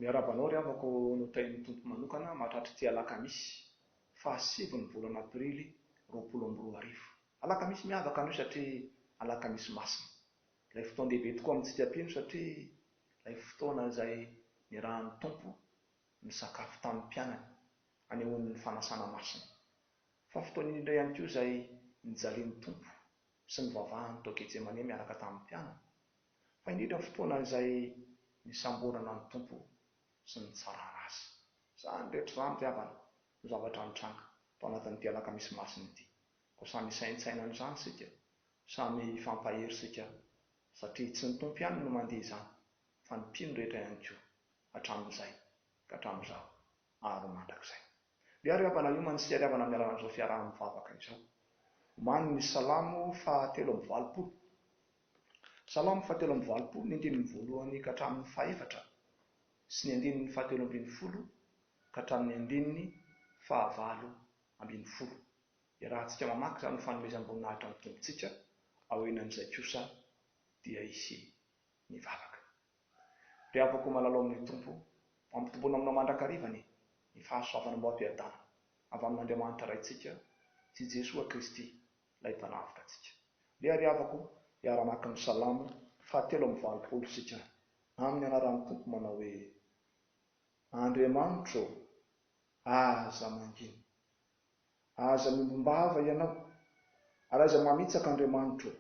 Miarahaba anao ry havako notahian'ny Tompo manokana mahatratra ity alakamisy faha sivy ny volana aprily roapolo amby roa arivo. Alakamisy miavaka anio satria alakamisy masina. Ilay fotoan-dehibe tokoa amintsika mpino satria ilay fotoana izay niarahan'ny Tompo nisakafo tamin'ny mpianany hanehoany ny fanasana masina. Fa fotoan'iny indray ihany koa izay nijalian'ny Tompo sy nivavahany tao Getsemane miaraka tamin'ny mpianany, fa indrindra fotoana izay nisamborana ny Tompo sy nitsarana Azy. Izany rehetra izany ry havana no zavatra nitranga tao anatin'ny dia alakamisy masina ity. Koa samy hisaintsaina an'izany isika, samy hifampahery isika satria tsy ny Tompo ihany no mandia izany fa ny mpino rehetra ihany koa hatramin'izay ka hatramin'izao. Avo mandrakizay. Miaro i Havana Iomany sy Iariavana amin'ny alalan'izao fiaraha-mivavaka izao. Omanin' ny Salamo fahatelo amby valopolo. Salamo fahatelo amby valopolo, ny andininy voalohany ka hatramin' ny fahefatra sy ny andininy fahatelo ambin'ny folo ka hatramin' ny andininy fahavalo ambin'ny folo. Iarahantsika mamaky izany ho fanomezam-boninahitra ny Tompontsika, aorian'izay kosa dia hisy ny vavaka. Mpiavaka ho malalo amin'ny Tompo, ampitomboina aminao mandrakariva ny ny fahasoavana mba ho am-piadanana avy amin'Andriamanitra Raintsika sy Jesoa Kristy ilay Mpanavotra antsika. Ndeha ry havako hiara-maka ny Salamo fahatelo amby valopolo isika amin'ny anaran'ny Tompo manao hoe, Andriamanitro ô, aza mangina. Aza miombom-bava ianao, ary aiza mamitsaka Andriamanitra ô!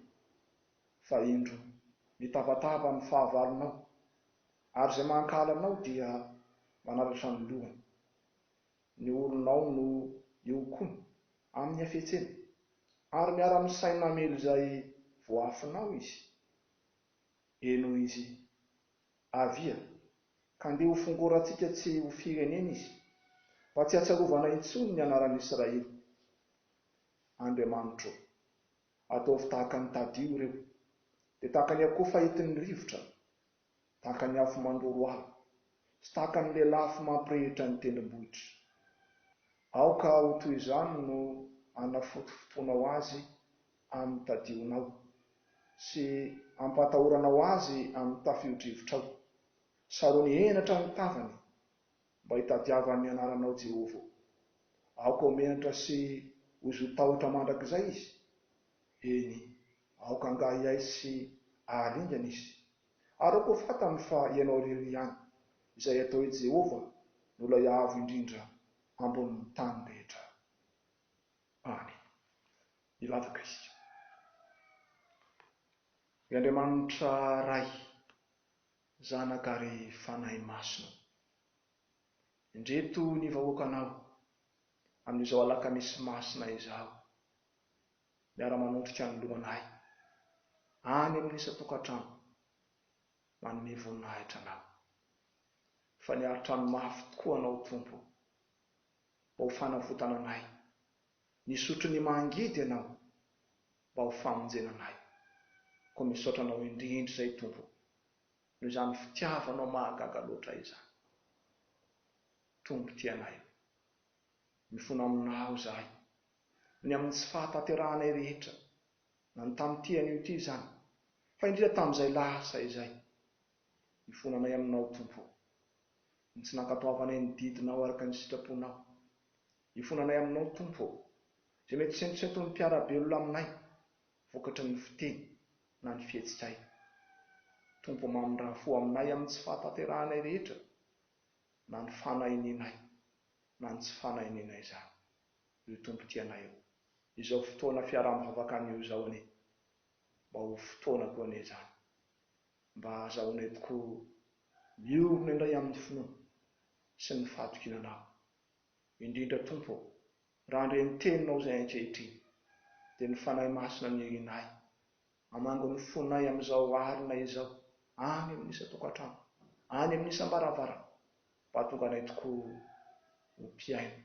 Fa indro, mitabataba amin'ny fahavalonao, ary izay mankahala anao dia manaratra ny lohany. Ny olonao no ihokoany amin'ny hafetseny, ary miara-misaina hamely izay voaafinao izy. Eny hoy izy, Avia, ka ndeha hofongorantsika tsy ho firenena izy, mba tsy hahatsiarovana intsony ny anaran'Israely. Andriamanitro ô, ataovy tahaka ny Tadio ireo, dia tahaka ny akoho fahitin'ny rivotra, tahaka ny afo mandoro ala, sy tahaka ny lelafo mampirehitra ny tendrombohitra. Aoka ho toy izany no hanafotofotoanao azy amin'ny tadionao, sy ampatahoranao azy amin'ny tafiodrivotrao. Sarony henatra ny tavany, mba hitadiavany ny anaranao, Jehovah ô. Aoka ho menatra sy ho zotahotra mandrakizay izy. Eny, aoka angaha hiaiky sy haharingana izy. Ary aoka ho fantany fa ianao irery ihany, izay atao hoe Jehovah, no Ilay Avo Indrindra ambonin'ny tany rehetra. any i Lavakristo. Ry Andriamanitra Ray, Zanaka ary Fanahy Masina, indreto ny vahoakanao amin'izao alakamisy masina izao, miara-manondrika ny lohanay any amin'ny isan-tokantrano, manome voninahitra anao. Fa niari-trano mafy tokoa anao Tompo. mba ho fanavotana anay. Nisotro ny mangidy ianao mba ho famonjena anay. Koa misaotra anao indrindra izay Tompo o, noho izany fitiavanao mahagaga loatra izany. Tompo tia anay o. Mifona aminao izahay, ny amin'ny tsy fahatanterahanay rehetra, na ny tamin'ity anio ity izany, fa indrindra tamin'izay lasa izay. Ifonanay aminao, Tompo ô. Ny tsy nankatoavanay ny didinao araka ny sitraponao. Ifonanay aminao, Tompo ô. Izay mety sentosenton'ny mpiara-belona aminay, vokatry ny fiteny na ny fihetsikay. Tompo ô, mamindrà fo aminay amin'ny tsy fahatanterahanay rehetra, na ny fanahinianay, na ny tsy fanahinianay izany. Io Tompo tia anay io. Izao fotoana fiaraha-mivavaka anio izao anie, mba ho fotoana koa anie izany. Mba azahoanay tokoa miorina indray amin'ny finoana sy ny fahatokiana Anao. Indrindra, Tompo ô, raha handre ny Teninao izahay ankehitriny, dia ny Fanahy Masina no irianay, hamango ny fonay amin'izao alina izao, any amin'ny isan-tokantrano, any amin'ny isam-baravarana, mba hahatonga anay tokoa ho mpihaino,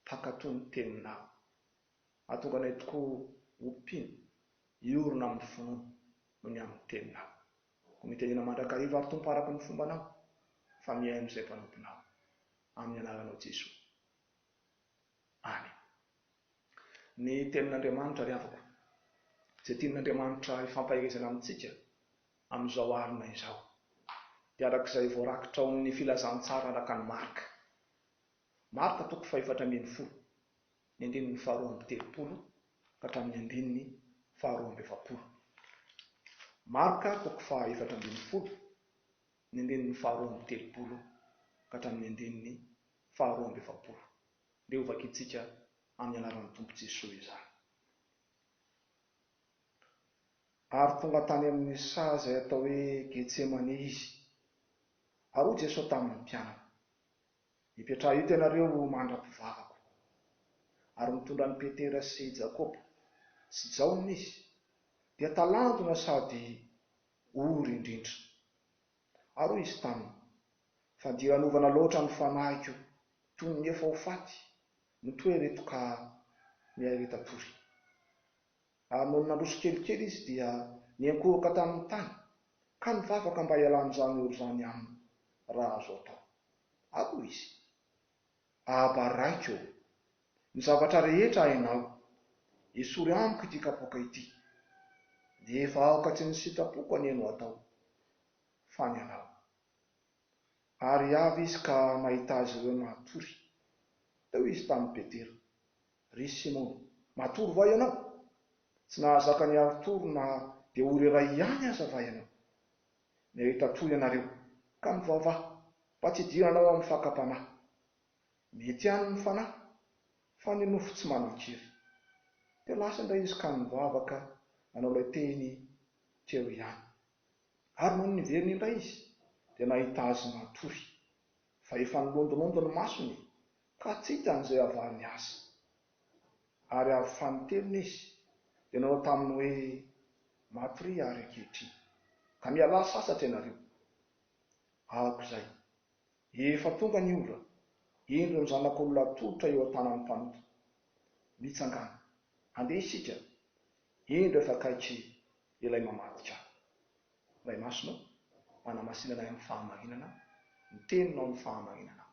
mpankatò ny Teninao. Mahatonga anay tokoa ho mpino hiorina amin'ny finoana noho ny amin'ny Teninao. Koa mitenena mandrakariva ary Tompo araka ny fombanao, fa mihaino izay mpanomponao. Amin'ny anaranao Jesoa. Amen. Ny Tenin'Andriamanitra ry havako, izay tian'Andriamanitra hifampaherezana amintsika amin'izao alina izao, dia araka izay voarakitra ao amin'ny Filazantsara araka an'i Marka. Marka toko fahefatra ambin'ny folo, ny andininy faharoa amby telopolo ka hatramin'ny andininy faharoa amby efapolo. Marka toko fahaefatra ambin'ny folo, ny andininy faharoa amby telopolo ka hatramin'ny andininy faharoa amby efapolo, dia hovakintsika amin'ny anaran'ny Tompo Jesoa izany. Ary tonga tany amin'ny saha izay atao hoe Getsemane Izy, ary hoy Jesoa tamin'ny mpianany. Mipetraha eto ianareo ho mandra-pivavako. Ary mitondra an'i Petera sy Jakoba sy Jaona izy, dia talanjona sady ory indrindra. Ary hoy izy taminy, Fa dia anovana loatra ny fanahiko toy ny efa ho faty, mitohy ireto ka miha reta-pory. Ary nony nandroso kelikely izy dia niankohoka tamin'ny tany ka nivavaka mba hialan'izany ory izany aminy, raha azo atao. Aoka izy. Abba Raiko ô, ny zavatra rehetra hainao, esory amiko ity kapoaka ity. Nefa aoka tsy ny sitrapoko anie no atao, fa ny anao. Ary avy izy ka nahita azy ireo natory. Teo izy tamin'i Petera. Ry Simona, matory va ianao? Tsy nahazaka ny harotory na dia ory iray ihany aza va ianao? Nahita toa ianareo, ka mivavaha mba tsy hidiranao amin'ny fakam-panahy. Mety ihany ny fanahy, fa ny nofo tsy manan-kery. Dia lasa indray izy ka nivavaka nanao ilay teny teo ihany. Ary nony niverina indray izy, dia nahita azy matory, fa efa nilondolondo ny masony, ka tsy hitany izay havariny azy. ary avy fanintelony izy, dia nanao taminy hoe, Maty re ary ankehitriny, ka mialà sasatra ianareo. Aok'izay, efa tonga ny ora, indro ny Zanak'olona atolotra eo an-tanan'ny mpanota. Mitsangàna, handeha isika, indro efa akaiky Ilay mamadika ahy. Ray Masina ô, manamasina anay amin'ny fahamarinana ny Teninao amin'ny fahamarinanao.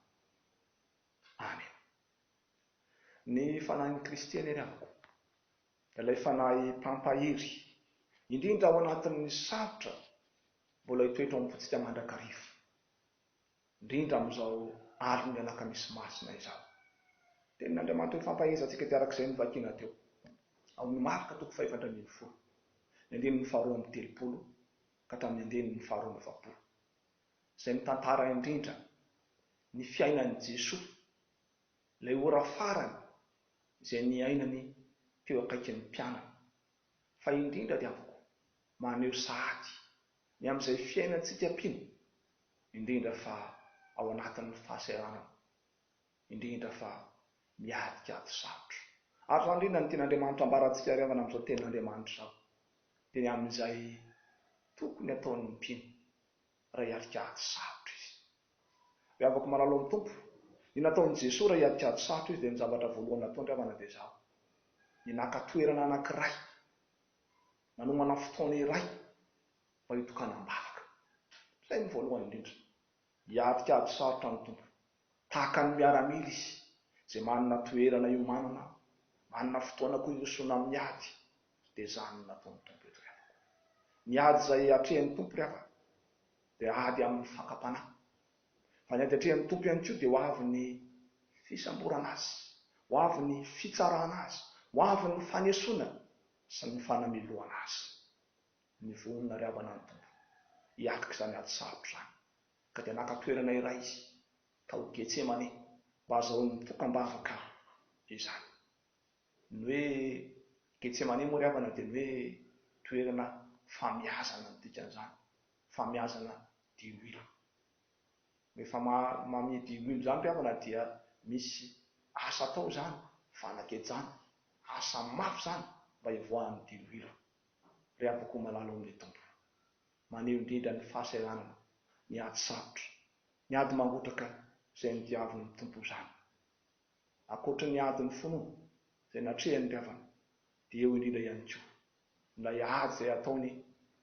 Amena. Ny Fanahin'i Kristy anie rehako, ilay Fanahy mpampahery, indrindra ao anatin'ny sarotra, mbola hitoetra ao am-pontsika mandrakariva, indrindra amin'izao alin'ny Alakamisy Masina izao. Tenin'Andriamanitra ifampahezantsika dia arak'izay novakina teo amin'ny Marka toko fahefatra ambin'ny folo, ny andininy faharoa amby telopolo ka hatramin'ny andininy faharoa amby efapolo, izay mitantara indrindra ny fiainan'i Jesoa, ilay ora farany izay niainany teo akaikin'ny mpianany. Fa indrindra dia afaka maneho sahady ny amin'izay fiainantsika mpino, indrindra fa ao anatin'ny fahasahiranana, indrindra fa miadiky ady sarotra. Ary izany indrindra no tian'Andriamanitra ambarantsika hariavana amin'izao Tenin'Andriamanitra izao, dia ny amin'izay tokony hataon'ny mpino Ray Harikady sarotra izy. Ry havako malalo amin'ny Tompo, ny nataon'i Jesoa Ray Harikady sarotra izy dia ny zavatra voalohany nataony ravana dia izao, ny naka toerana anankiray, nanomana fotoana iray mba hitokanam-bavaka. Izay no voalohany indrindra. Hiadikady sarotra amin'ny Tompo. Tahaka ny miaramila izy, izay manana toerana iomanana ao, manana fotoana koa irosoana amin'ny ady. Dia izany no nataon'ny Tompo eto ry havako. Ny ady izay atrehin'ny Tompo ry havako dia ady amin'ny fakam-panahy. Fa ny ady atrehin'ny Tompo ihany koa dia ho avy ny fisamborana azy, ho avy ny fitsarana azy, ho avy ny fanesoana sy ny fanamelohana azy. Ny vohony nariavana ny Tompo hiatrika izany ady sarotra izany. Ka dia naka toerana iray Izy tao Getsemane mba hazahoany mitoka-bavaka izany. Ny hoe Getsemane moa ry havana dia ny hoe toerana famiazana no dikan'izany, famiazana diloilo. Rehefa mamia diloilo izany ry havana dia misy asa atao izany, fanakejana, asa mafy izany mba hivoahan'ny diloilo. Ry havako malala ao amin'ny Tompo, maneho indrindra ny fahasahiranana ny ady sarotra, ny ady mangotraka izay nodiavin'ny Tompo izany. Ankoatry ny ady nifono izay natrehan'ny ry-havana dia eo indrindra ihany koa ilay ady izay ataony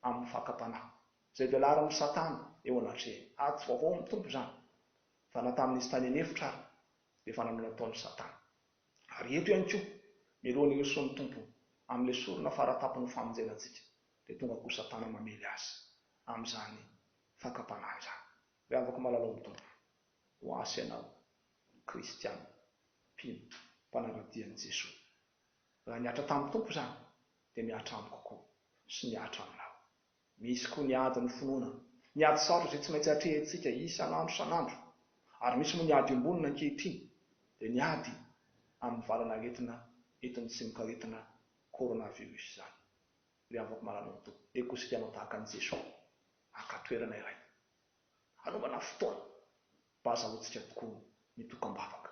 amin'ny fakam-panahy izay velarin'i Satana eo anatrehany. Ady tsy vaovao amin'ny Tompo izany fa na tamin'izy tany an'efitra ary dia efa nanao ny ataony Satana. Ary eto ihany koa, mialoha ny hirosoan'ny Tompo amin'ilay sorona fara-tampon'ny famonjena antsika dia tonga koa Satana mamely azy amin'izany fakam-panahy izany. Ry havako malalao amin'ny Tompo, ho ahy sy ianao ny kristiana, mpino, mpanara-dia an'i Jesoa. Raha nihatra tamin'ny Tompo izany, dia mihatra amiko koa, sy mihatra aminao. Misy koa ny ady nofonoina, ny ady sarotra izay tsy maintsy atrehintsika isan'andro isan'andro, ary misy moa ny ady iombonana ankehitriny, dia ny ady amin'ny valan'aretina entin'ny tsimokaretina coronavirus izany. Ry havako malanonto, dia kosikianao tahaka an'i Jesoa, haka toerana iray hanaovana fotoana mba hahazahoantsika tokoa ny dokam-bahoka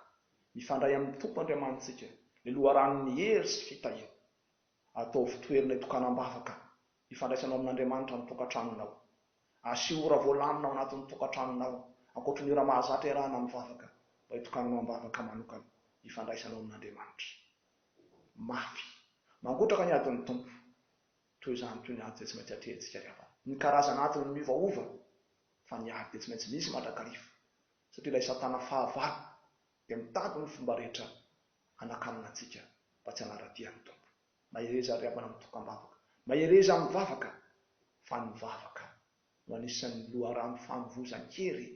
mifandray amin'ny Tompo Andriamanitsika, ny loharanon'ny hery sy fitahiana. Ataovy toerana itokanam-bahoka ifandraisanao amin'Andriamanitra ny tokantranonao. Asio ora voalamina ao anatin'ny tokantranonao, ankoatry ny ora mahazatra iarahana mivavaka, mba hitokananao am-bavaka manokana ifandraisanao amin'Andriamanitra. Mafy mangotraka ny adin'ny Tompo. Toy izany toy ny ady dia tsy maintsy atrehintsika ny havana. Ny karazana ady no miovaova fa ny ady dia tsy maintsy misy mandrakariva satria ilay satana fahavalo dia mitady ny fomba rehetra hanakanana antsika mba tsy hanara-dia ny Tompo. Mahereza ry havana mitokam-bavaka, mahereza mivavaka fa ny vavaka no anisan'ny loharano fanovozan-kery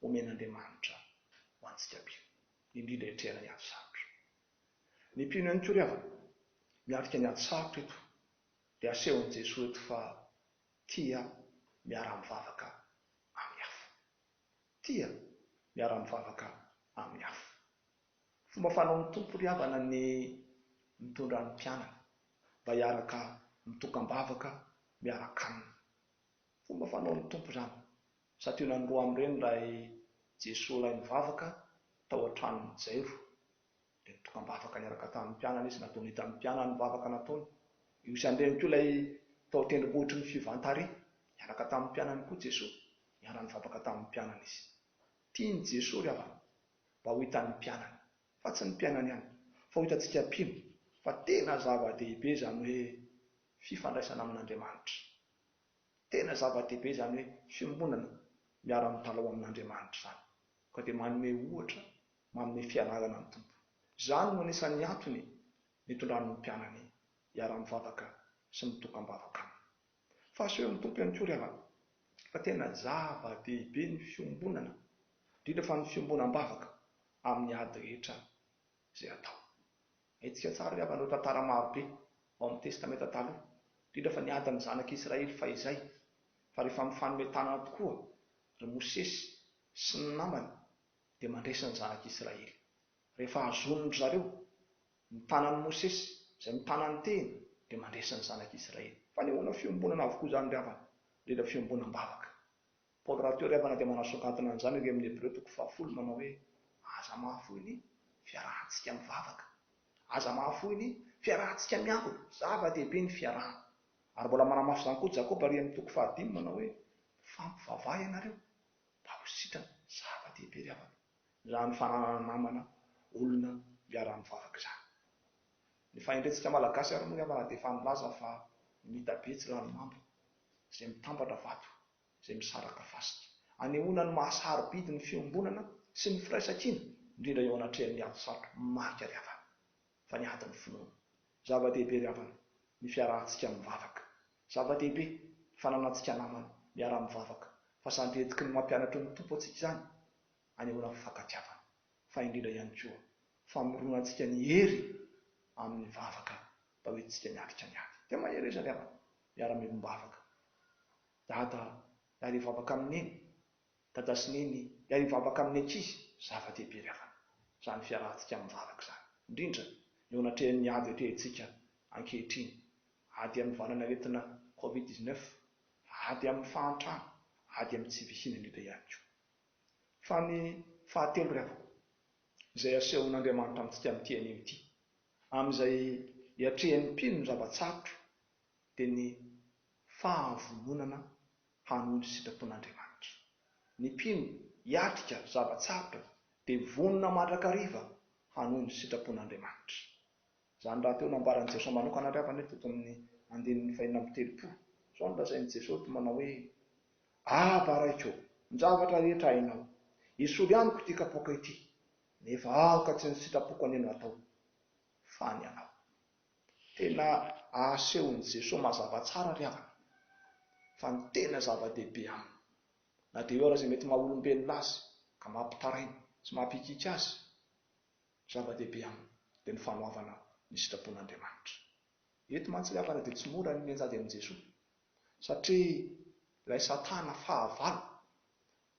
omen'Andriamanitra ho antsika be indrindra hiatrehana ny andro sarotra. Ny mpino ihany koa ry havana miatrika ny ady sarotra eto dia asehon'i Jesoa eto fa tia miara-mivavaka amin'ny hafa. Tia miara-mivavaka amin'ny hafa. Fomba fanaon'ny Tompo ry havana ny mitondra ny mpianany mba hiaraka mitokam-bavaka miara-kanina. Fomba fanaon'ny Tompo izany Santionany roa amin'ireny ilay Jesoa lahy nivavaka tao an-tranon'i Jairo. Dia nitokam-bavaka niaraka tamin'ny mpianany izy, nataony hitan'ny mpianany ny vavaka nataony. Io ihany indray koa ilay tao an-tendrombohitry ny Fivantary, niaraka tamin'ny mpianany koa Jesoa. Niara-nivavaka tamin'ny mpianany izy. Tian'i Jesoa ry havana mba ho hitan'ny mpianany, fa tsy ny mpianany ihany, fa ho hitantsika mpino fa tena zava-dehibe izany hoe fifandraisana amin'Andriamanitra. Tena zava-dehibe izany hoe fiombonana miara-mitalaho amin'Andriamanitra izany, koa dia manome ohatra, manome fianarana ny Tompo. Izany no anisan'ny antony nitondran'ny mpianany hiara-mivavaka sy mitoka-mbavaka Aminy. Fa asehon'ny Tompo ihany koa ry havana, fa tena zava-dehibe ny fiombonana, indrindra fa ny fiombonam-bavaka amin'ny ady rehetra izay atao. Haintsika tsara ry havana ireo tantara maro be ao amin'ny Testamenta Taloha, indrindra fa ny ady amin'ny zanak'i Israely fahizay, fa rehefa mifanome tanana tokoa ry Mosesy sy ny namany dia mandresy ny zanak'i Israely. Rehefa hazonin-dry zareo ny tanan'i Mosesy izay mitana ny tehiny dia mandresy ny zanak'i Israely. Fanehoana fiombonana avokoa izany ry havana, indrindra fiombonam-bavaka. Paoly rahateo ary havana dia manasongadina an'izany erỳ amin'ny Hebreo toko fahafolo manao hoe, Aza mahafoy ny fiarahantsika mivavaka. Aza mahafoy ny fiarahantsika miangona. Zava-dehibe ny fiarahana. Ary mbola manamafy izany koa Jakoba arỳ amin'ny toko fahadimy manao hoe, Mifampivavaha ianareo, mba ho sitrana. Zava-dehibe ry havana, izany fananana namana, olona hiara-mivavaka izany. Ny fahendrentsika Malagasy ary moa ry havana dia efa nilaza fa mitabe tsy ranomamba izay mitambatra vato. izay misaraka fasika. Anehoana ny maha sarobidy ny fiombonana sy ny firaisankina, indrindra eo anatrehan'ny ady sarotra maika ry havana, fa ny adin'ny finoana. Zava-dehibe ry havana ny fiarahantsika mivavaka. Zava-dehibe ny fananantsika namana miara-mivavaka, fa sandry hetiky ny mampianatry ny Tompo antsika izany, anehoana fifankatiavana, fa indrindra ihany koa, famoronantsika ny hery amin'ny vavaka mba hoentintsika miatrika ny ady. Dia mahereza ry havana, miara-miombom-bavaka. Dada miara hivavaka amin'ny neny, dada sy neny miara hivavaka amin'ny ankizy, zava-dehibe ry havana izany fiarahantsika amin'ny vavaka izany, indrindra eo anatrehan'ny ady atrehintsika ankehitriny, ady amin'ny valanaretina covid dix-neuf, ady amin'ny fahantrana, ady amin'ny tsy fisian'ny loto ihany koa. Fa ny fahatelo ry havana, izay asehon'Andriamanitra amintsika amin'ity anio ity, amin'izay iatrehan'ny mpino ny zava-tsarotra dia ny fahavononana hanohy ny sitrapon'Andriamanitra. Ny mpino hiatrika zava-tsarotra dia vonona mandrakariva hanohy ny sitrapon'Andriamanitra. Izany rahateo nambaran'i Jesoa manokana ary havana eto eto amin'ny andininy fahenina amby telopolo. Izao no lazain'i Jesoa eto manao hoe, Ava Raiko, ny zavatra rehetra hainao, esory amiko ity kapoaka ity, nefa aoka tsy ny sitrapoko anio no hatao, fa ny anao. Tena asehon'i Jesoa mazava tsara ry havana fa ny tena zava-dehibe aminy, na dia eo aza izay mety maha-olombelona azy ka mampitaraina sy mampikiky azy, ny zava-dehibe aminy dia ny fanoavana ny sitrapon'Andriamanitra. Eto mantsy ry havana dia tsy mora ny mianjady amin'i Jesoa satria ilay Satana fahavalo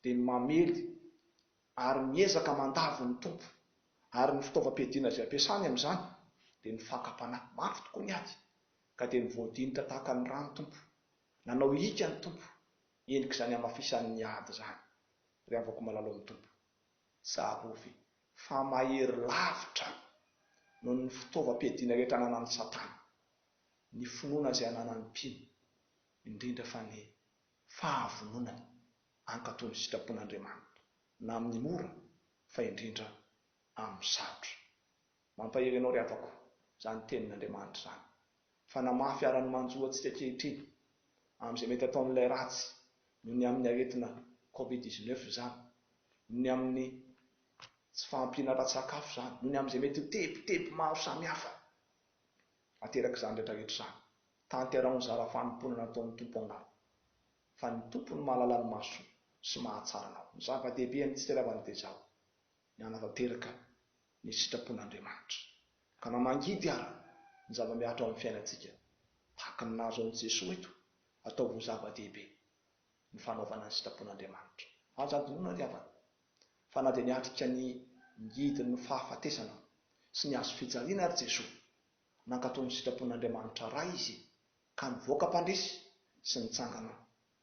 dia mamely ary miezaka mandavo ny Tompo, ary ny fitaovam-piadiana izay ampiasany amin'izany dia ny fakam-panahy, mafy tokoa ny ady, ka dia mivoadinika tahaka ny rano Tompo, nanao hiaka ny Tompo, endrik'izany hamafisany ny ady izany, ry havako malalo amin'ny Tompo, tsarovy fa mahery lavitra noho ny fitaovam-piadiana rehetra ananan'i Satana ny finoana izay ananan'ny mpino, indrindra fa ny fahavononany Hankatò ny sitrapon'Andriamanitra, na amin'ny mora, fa indrindra amin'ny sarotra. Mampahery anao ry havako izany tenin'Andriamanitra izany, fa na mafy ara ny manjo antsika ankehitriny amin'izay mety ataon'ilay ratsy noho ny amin'ny aretina Covid dix-neuf izany, noho ny amin'ny tsy fahampiana ara-tsakafo izany, noho ny amin'izay mety ho tebiteby maro samihafa aterak'izany rehetrarehetra izany, tanterao ny zara fanompoana nataon'ny Tompo angaha. fa ny Tompo no mahalala ny mahasoa sy mahatsara anao. Ny zava-dehibe amin'ny fiteravan'i Tezao ny hanatanteraka ny sitrapon'Andriamanitra, ka na mangidy ara ny zava-mihatra ao amin'ny fiainantsika, tahaka ny nahazo an'i Jesoa eto, ataovy ho zava-dehibe ny fanaovana ny sitrapon'Andriamanitra. Aza adinoina ry havana, fa na dia niatrika ny ngidin'ny fahafatesana sy ny hazo fijaliana ary Jesoa, nankatò ny sitrapon'Andriamanitra Ray Izy ka nivoaka mpandresy sy nitsangana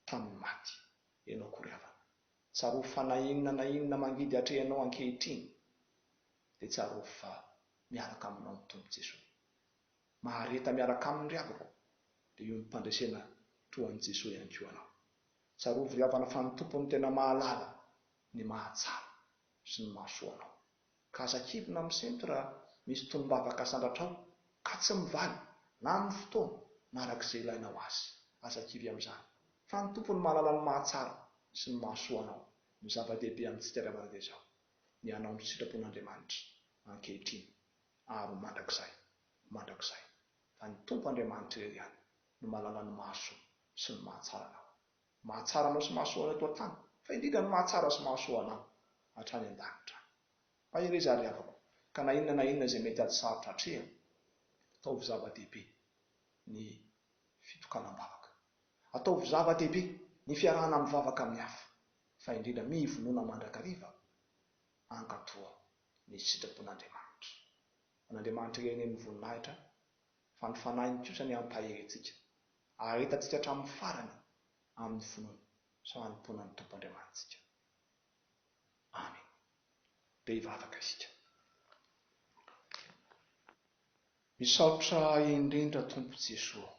tamin'ny maty ianao akory havana. Tsarovy fa na inona na inona mangidy atrehinao ankehitriny dia tsarovy fa miaraka aminao ny Tompo Jesoa. Mahareta miaraka aminy ry havako dia hiombom-pandresena toa an'i Jesoa ihany koa anao. Tsarovy ry havana fa ny Tompo no tena mahalala ny mahatsara sy ny mahasoa anao. ka aza kivina misento raha misy tonom-bavaka sandratrao ka tsy mivaly na amin'ny fotoana na araka izay ilaina ho azy. Aza kivy amin'izany fa ny Tompo no mahalala ny mahatsara sy ny mahasoa anao. Ny zava-dehibe amintsika ry havana dia izao, ny hanao ny sitrapon'Andriamanitra ankehitriny ary ho mandrakizay mandrakizay. Fa ny Tompo Andriamanitra irery ihany no mahalala ny mahasoa sy ny mahatsara anao. Ny mahatsara anao sy mahasoa anao eto an-tany, fa indrindra ny mahatsara sy mahasoa anao hatrany an-danitra any. Mahereza ry havako, ka na inona na inona izay mety ady sarotra atrehina, ataovy zava-dehibe ny fitokanam-bavaka. Ataovy zava-dehibe ny fiarahana mivavaka amin'ny hafa, fa indrindra mivonona mandrakariva hankato ny sitrapon'Andriamanitra. An'Andriamanitra irery anie ny voninahitra, fa ny Fanahiny kosa ny hampahery antsika. Haharetantsika hatramin'ny farany amin'ny finoana sy fanompoana ny Tompo Andriamanitsika. Amena. Dia hivavaka isika. Misaotra indrindra Tompo Jesoa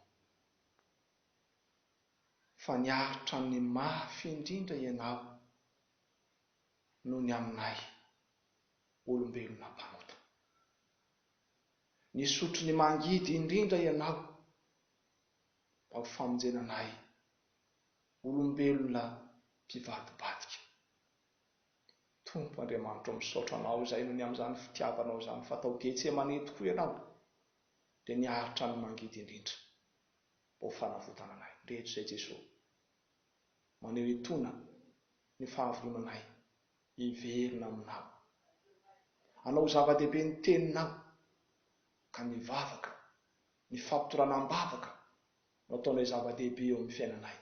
fa niaritra ny mafy indrindra Ianao noho ny aminay olombelona mpanota. Nisotro ny mangidy indrindra ianao tao famonjena anay olombelona mpivadibadika. Tompo Andriamanitro o misaotra Anao izay nony amin'izany fitiavanao izany fa tao Getsemane tokoa ianao dia niaritra ny mangidy indrindra mba ho fanavotana anay rehetra izay Jesoa. Maneho etona ny fahavorona anay Hiverina aminao. Hanao ho zava-dehibe ny teninao. Ka ny vavaka, ny fapitorana am-bavaka no ataonay zava-dehibe eo amin'ny fiainanay.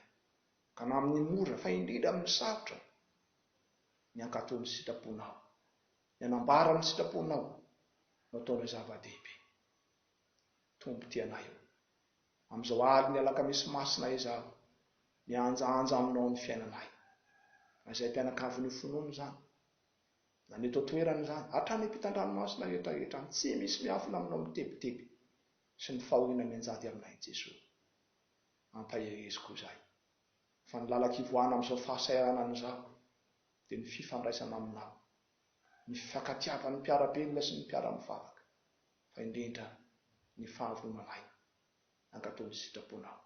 Ka na amin'ny mora fa indrindra amin'ny sarotra, ny hankatò ny sitraponao, ny hanambara ny sitraponao no ataonay zava-dehibe. Tompo tia anay ô. Amin'izao alin'ny Alakamisy Masina izaho mihanjahanja aminao ny fiainanay. Raha izay mpianakavy nofonoina izany, na ny eto an-toerana izany, hatrany ampitan-dranomasina rehetra rehetra any, tsy misy miafina aminao mitebiteby sy ny fahoriana mianjady aminay Jesoa. Ampahereziko izay. Fa ny lalan-ko hivoahana amin'izao fahasahiranana izao dia ny fifandraisana aminao, ny fifankatiavan'ny mpiara-belona sy ny mpiara-mivavaka. fa indrindra ny fahavononanay hankatò ny sitraponao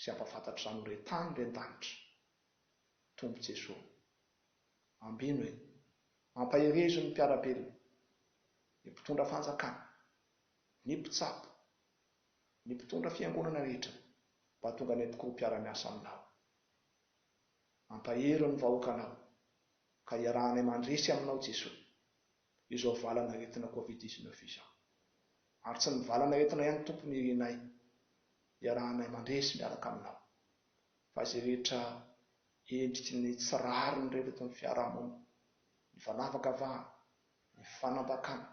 sy hampahafantatra izany ho re tany re an-danitra, Tompo Jesoa. Ambino e! Ampaherezo ny mpiara-belona, ny mpitondra fanjakana, ny mpitsabo, ny mpitondra fiangonana rehetra mba tonga any am-poko mpiara-miasa aminao. Ampahery ny vahoakanao ka iarahanay mandresy aminao Jesoa izao valanaretina covid dix neuf izao. Ary tsy ny valanaretina ihany Tompo no irianay, iarahanay mandresy miaraka Aminao, fa izay rehetra endriky ny tsy rariny rehetra eto amin'ny fiaraha-monina, ny fanavakavahana, ny fanambakana,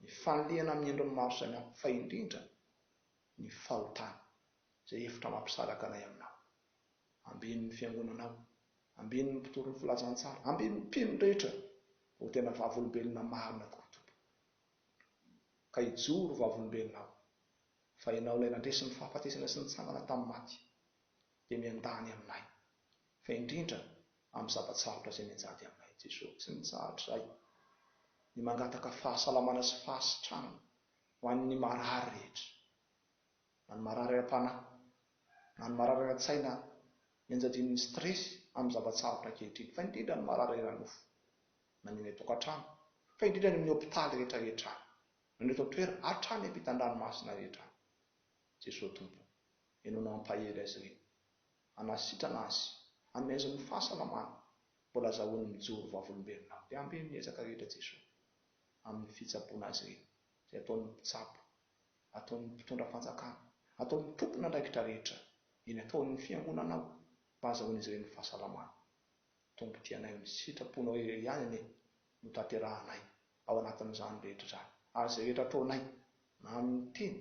ny fanilihana amin'ny endriny maro samihafa, fa indrindra ny fahotana. izay efitra mampisaraka anay aminao. Ambeno ny fiangonanao. Ambeno ny mpitory ny filazantsara. Ambeno ny mpino rehetra ho tena vavolombelona marina tokoa, Tompo. Ka hijoro ho vavolombelona aho, fa Ianao ilay nandresy ny fahafatesana sy nitsangana tamin'ny maty, dia miandany aminay, fa indrindra amin'ny zava-tsarotra izay mianjady aminay. Jeso, tsy mitsahatra izahay ny mangataka fahasalamana sy fahasitranana ho an'ny marary rehetra. na ny marary ara-panahy, na ny marary ara-tsaina nianjadian'ny stress amin'ny zava-tsarotra ankehitriny, fa indrindra ny marary ara-nofo, na ny any an-tokantrano, fa indrindra any amin'ny hopitaly rehetra rehetra any, na ny eto an-toerana, hatrany ampitan-dranomasina rehetra any. Jesoa Tompo o, Ianao no hampahery azy ireny, hanasitrana azy, hanome azy ny fahasalamana, mbola azahoany mijoro vavolombelona, mpiamby amin'ny ezaka rehetra Jesoa, amin'ny fitsaboana azy ireny, izay ataon'ny mpitsabo ataon'ny mpitondra fanjakana, ataon'ny tompon'andraikitra rehetra eny ataon'ny fiangonana ao mba hazahoan'izy ireny ny fahasalamana. Tombo-dianay amin'ny sitraponao irery ihany anie no tanterahanay ao anatin'izany rehetra izany ary izay rehetra ataonay na amin'ny teny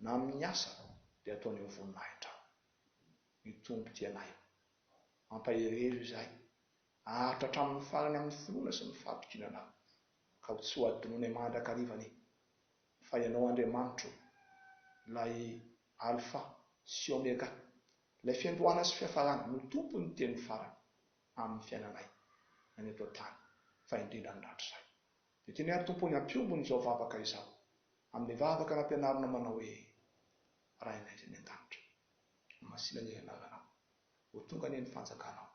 na amin'ny asa dia ataonay ho voninahitra ny tombo-dianay. Mampaherihero izay. Aharitra hatramin'ny farany amin'ny finoana sy ny fahatokiana anao ka ho tsy ho adinonay mandrakariva ny. Fa Ianao Andriamanitra ô, ilay Alfa sy Omega, ilay fiandohana sy fiafarana, no Tompon' ny teny farany amin' ny fiainanay, na ny eto an-tany, fa indrindra ny rahatrizay. Dia tianay ary Tompo ny hampiombon' izao vavaka izao amin' ny vavaka nampianarinao manao hoe, Rainay izay any an-danitra, homasina anie ny anaranao, ho tonga anie ny fanjakanao,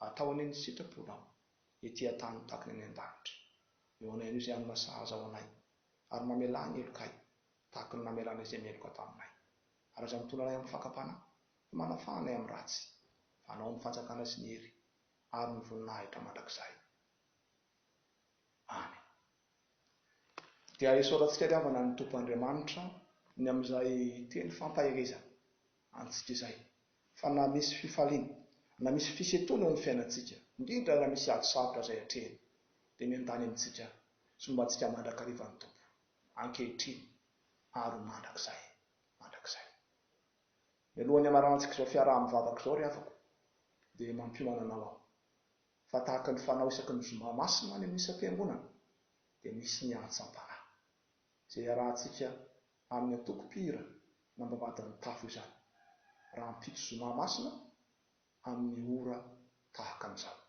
atao anie ny sitraponao ety an-tany tahaka ny any an-danitra. Eo anay anio izay hanana sahaza ho anay ary mamelà ny helokay, tahaka ny namelanay izay meloka taminay. Ary aza mitondra anay amin'ny fakam-panahy, fa manafaha anay amin'ny ratsy, fa anao ny fanjakana sy ny hery ary ny voninahitra mandrakizay. Amen. Dia isaorantsika ry havana ny Tompo Andriamanitra ny amin'izay teny fampaherezana antsika izay fa na misy fifaliana na misy fisetroana eo amin'ny fiainantsika, indrindra raha misy ady sarotra izay atrehina, dia miandany amintsika sy momba antsika mandrakariva ny Tompo, ankehitriny ary ho mandrakizay mandrakizay. Mialohan'ny hamaranantsika izao fiaraha-mivavaka izao, ry havako, dia mampiomana anao aho fa tahaka ny fanao isaky ny zoma masina any amin'ny isam-piangonana dia misy ny antsampanahy izay iarahantsika amin'ny antoko mpihira nambabadin'ny tafo izany, rahampitso zoma masina amin'ny ora tahaka an'izany.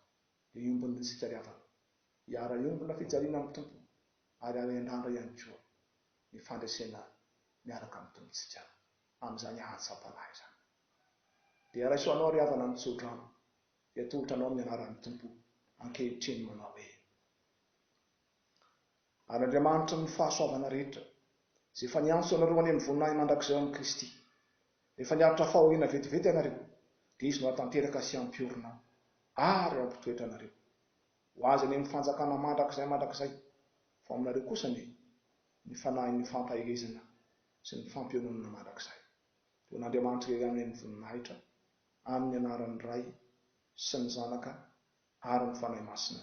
Hiombona isika ry havana, hiara-hiombona fijaliana amin'ny Tompo ary hiara-hiandrandra ihany koa ny fandresena miaraka amin'ny Tompontsika amin'izany hatsampanahy izany. Dia raiso anao ry havana ny tsodrano, dia atolotra anao ny anaran'ny Tompo ankehitriny manao hoe. Ary Andriamanitry ny fahasoavana rehetra, izay efa niantso anareo any amin'ny voninahiny mandrakizay ao amin'i Kristy, rehefa niaritra fahoriana vetivety ianareo, dia Izy no hahatanteraka sy hampiorina ary hampitoetra anareo. Ho azy any amin'ny fanjakana mandrakizay mandrakizay. Fa ho aminareo kosa anie ny fanahin'ny fampaherezana sy ny fampiononana mandrakizay. Dia ho an'Andriamanitra irery aminy ny voninahitra, amin'ny anaran'ny Ray sy ny Zanaka ary ny Fanahy Masina.